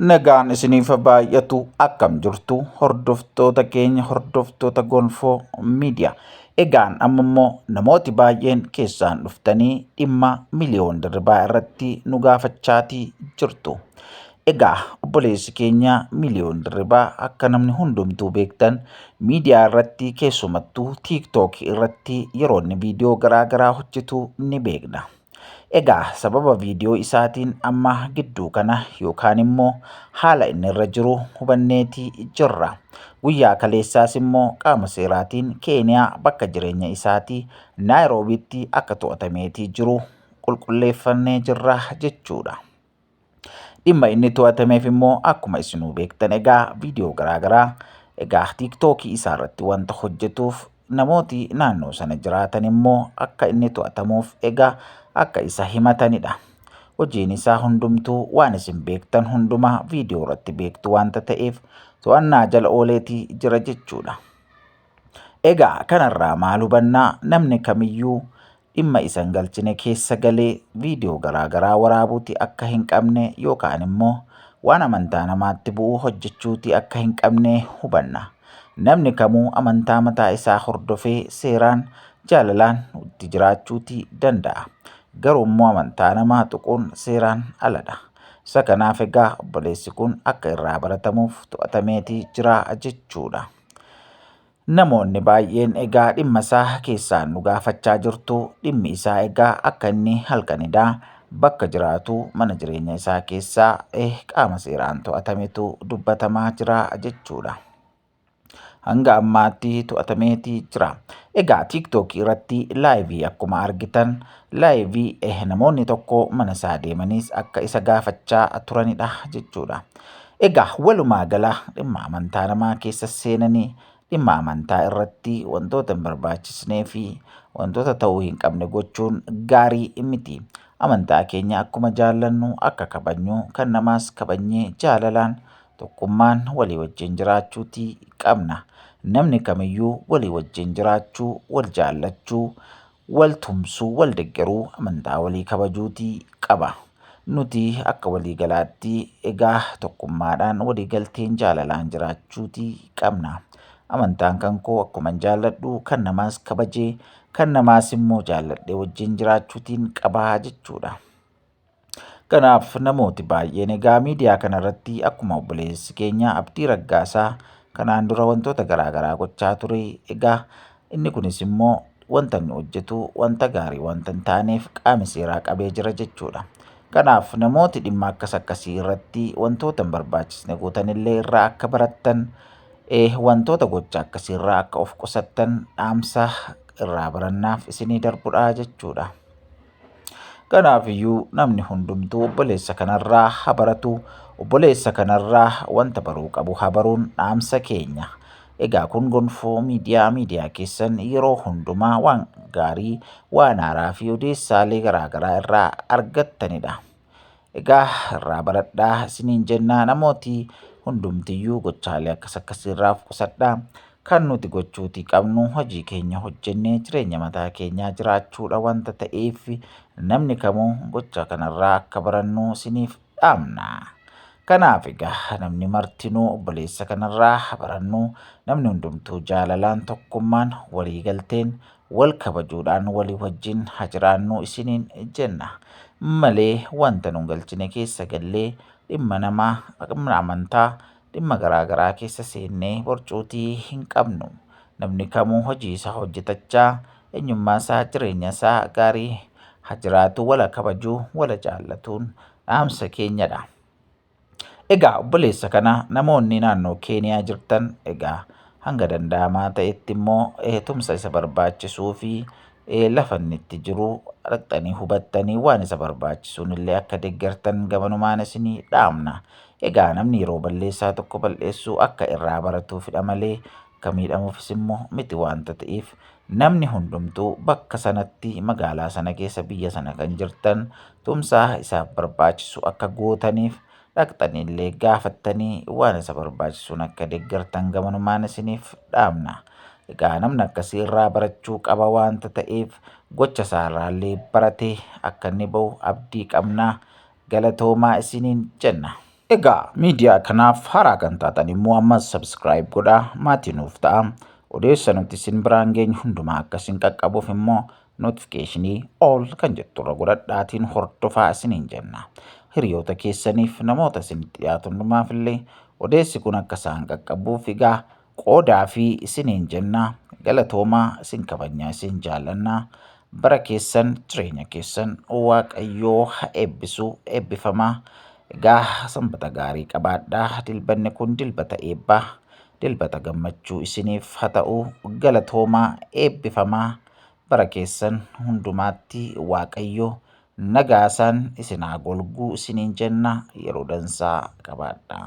Nagaan isiniif baay'atu akkam jirtu hordoftoota keenya hordoftoota gonfoo miidiyaa. Egaan amma immoo namooti baay'een keessaan dhuftanii dhimma miliyoon dirribaa irratti nu gaafachaatii jirtu. Egaa obboleessi keenya miliyoon dirribaa akka namni hundumtuu beektan miidiyaa irratti keessumattuu tiiktookii irratti yeroo inni viidiyoo garaa garaa hojjetu ni beekna. Egaa sababa viidiyoo isaatiin amma gidduu kana yookaan immoo haala inni irra jiru hubanneeti jirra. Guyyaa kaleessaas immoo qaama seeraatiin Keeniyaa bakka jireenya isaatii Naayiroobiitti akka to'atameetii jiru qulqulleeffannee jirra jechuudha. Dhimma inni to'atameef immoo akkuma isinuu beektan egaa viidiyoo garaagaraa egaa tiiktookii isaa irratti wanta hojjetuuf namooti naannoo sana jiraatan immoo akka inni to'atamuuf egaa akka isa himatanidha. Hojiin isaa hundumtuu waan isin beektan hundumaa viidiyoo irratti beektu wanta ta'eef to'annaa jala ooleetii jira jechuudha. Egaa kanarraa maal hubannaa namni kamiyyuu dhimma isa hin galchine keessa galee viidiyoo garaa garaa waraabuuti akka hin qabne yookaan immoo waan amantaa namaatti bu'u hojjechuuti akka hin qabne hubanna. Namni kamuu amantaa mataa isaa hordofee seeraan jaalalaan itti jiraachuuti danda'a. Garuu immoo amantaa namaa tuquun seeraan aladha. Isa kanaaf egaa obboleessi kun akka irraa baratamuuf to'atameeti jira jechuudha. Namoonni baay'een egaa dhimma isaa keessaan nu gaafachaa jirtu dhimmi isaa egaa akka inni halkanidaa bakka jiraatu mana jireenya isaa keessaa eh, qaama seeraan to'atametu dubbatamaa jira jechuudha. Hanga ammaatti to'atameeti jira. Egaa tiiktookii irratti laayivii akkuma argitan laayivii eh, namoonni tokko mana isaa deemaniis akka isa gaafachaa turanidha jechuudha. Egaa walumaa gala dhimma amantaa namaa keessa seenanii dhimma amantaa irratti wantoota hin barbaachisnee fi wantoota ta'uu hin qabne gochuun gaarii miti. Amantaa keenya akkuma jaallannu akka kabajnu kan namaas kabajnee jaalalaan tokkummaan walii wajjin jiraachuutii qabna. Namni kamiyyuu walii wajjin jiraachuu, wal jaallachuu, Wal tumsuu, wal deggeruu, amantaa walii kabajuuti qaba. Nuti akka waliigalaatti egaa tokkummaadhaan waliigalteen jaalalaan jiraachuuti qabna. Amantaan kan koo akkuman jaalladhu kan namaas kabajee kan namaas immoo jaalladhee wajjin jiraachuutiin qabaa jechuudha. Kanaaf namooti baay'een egaa miidiyaa kana irratti akkuma obboleessi keenya Abdii Raggaasaa kanaan dura wantoota garaa garaa gochaa ture egaa inni kunis immoo wanta inni hojjetu wanta gaarii wanta hin taaneef qaami seeraa qabee jira jechuudha. Kanaaf namooti dhimma akkas akkasii irratti wantoota hin barbaachisne gootan illee irraa akka barattan wantoota gocha akkasii irraa akka of qusattan dhaamsa irraa barannaaf isinii darbudha jechuudha. Kanaafiyyuu namni hundumtuu obboleessa kanarraa haa baratu, obboleessa kanarraa wanta baruu qabu haa baruun dhaamsa keenya. Egaa kun gonfoo miidiyaa miidiyaa keessan yeroo hundumaa waan gaarii, waan haaraa fi odeessaalee garaagaraa irraa argattanidha. Egaa irraa baradhaa isiniin jennaa namooti hundumtiyyuu gochaalee akkas akkasii irraa of qusadhaa. Kan nuti gochuutii qabnu hojii keenya hojjennee jireenya mataa keenyaa jiraachuudha wanta ta'eef namni kamuu gocha kanarraa akka barannu isiniif dhaamna. Kanaaf egaa namni martinuu obboleessa kanarraa barannu namni hundumtuu jaalalaan tokkummaan waliigalteen wal kabajuudhaan walii wajjin haa jiraannu isiniin jenna malee wanta nun galchine keessa gallee dhimma namaa, dhimma amantaa, dhimma garaa garaa keessa seennee borcuutii hin qabnu. Namni kamuu hojii isaa hojjetachaa eenyummaa isaa jireenya isaa gaarii haa jiraatu wal haa kabajuu wal haa jaallatuun dhaamsa keenyadha. Egaa obboleessa kana namoonni naannoo Keeniyaa jirtan egaa hanga danda'amaa ta'etti immoo eh, tumsa isa barbaachisuu fi eh, lafa inni itti jiru dhaqxanii hubattanii waan isa barbaachisuun illee akka deeggartan gamanumaan isinii dhaamna. Egaa namni yeroo balleessaa tokko bal'eessuu akka irraa baratuufidha malee akka miidhamuufis immoo miti waanta ta'eef Namni hundumtuu bakka sanatti magaalaa sana keessa biyya sana kan jirtan tumsaa isaaf barbaachisu akka gootaniif dhaqxaniillee gaafattanii waan isa barbaachisuun akka deeggartan gamanumaan isiniif dhaamna. Egaa namni akkasii irraa barachuu qaba waanta ta'eef gocha isaarraallee baratee akka inni ba'u abdii qabna. Galatoomaa isiniin jenna. Egaa miidiyaa kanaaf haaraa kan taatan immoo ammas subscribe godhaa maatii nuuf ta'a. Odeessa nuti isin biraan geenyu hundumaa akka isin qaqqabuuf immoo notifiikeeshinii all kan jettu irra godhadhaatiin hordofaa isiniin jenna. Hiriyoota keessaniif namoota isinitti dhiyaatu hundumaaf illee odeessi kun akka isaan qaqqabuuf egaa qoodaa fi isiniin jenna galatoomaa isin kabajnaa isin jaallanna bara keessan jireenya keessan waaqayyoo ha eebbisu eebbifamaa egaa sanbata gaarii qabaadhaa dilbanni kun dilbata eebbaa dilbata gammachuu isiniif ha ta'u galatoomaa eebbifamaa bara keessan hundumaatti waaqayyo nagaasaan isin haa golguu isiniin jenna yeroo dansaa qabaadhaa.